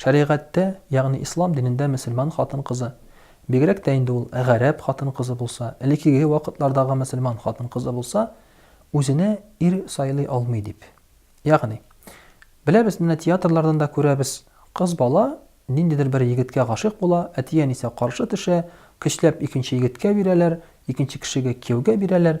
Шәригатьтә, ягъни ислам динендә мөселман хатын-кызы, бигрәк тә инде ул гарәп хатын-кызы булса, элекеге вакытлардагы мөселман хатын-кызы булса, үзенә ир сайлый алмый дип. Ягъни, беләбез, менә театрлардан да күрәбез, кыз бала ниндидер бер егеткә гашыйк була, әти-әнисе каршы төшә, көчләп икенче егеткә бирәләр, икенче кешегә кияүгә бирәләр,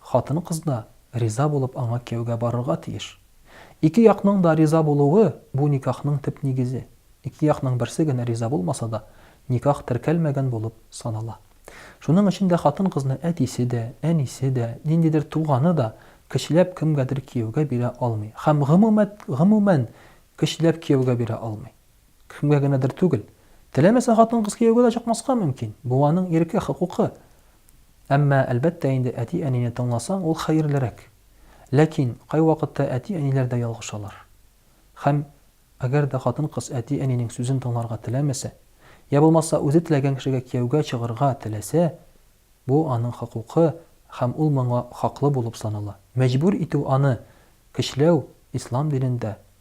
Хатын-кыз да риза булып аңа кияүгә барырга тиеш. Ике якның да риза булуы, бу никахның төп нигезе. Ике якның берсе генә риза булмаса да, никах теркәлмәгән булып санала. Шуның өчен дә хатын-кызны әтисе дә, әнисе дә, ниндидер туганы да көчләп кемгәдер кияүгә бирә алмый һәм гомумәт, гомумән, көчләп кияүгә бирә алмый. Кемгә генәдер түгел. Теләмәсә хатын-кыз кияүгә дә чыкмаска мөмкин, бу аның ирке, хокукы. Әмма, әлбәттә инде, әти-әнине тыңласаң, ул хәерлерәк. Ләкин, кайвакытта әти-әниләр дә ялгышалар. Һәм, әгәр дә хатын-кыз әти-әнинең сүзен тыңларга теләмәсә, йә булмаса үзе теләгән кешегә кияүгә чыгырга теләсә, бу аның хокукы һәм ул моңа хаклы булып санала. Мәҗбүр итү аны көчләү Ислам динендә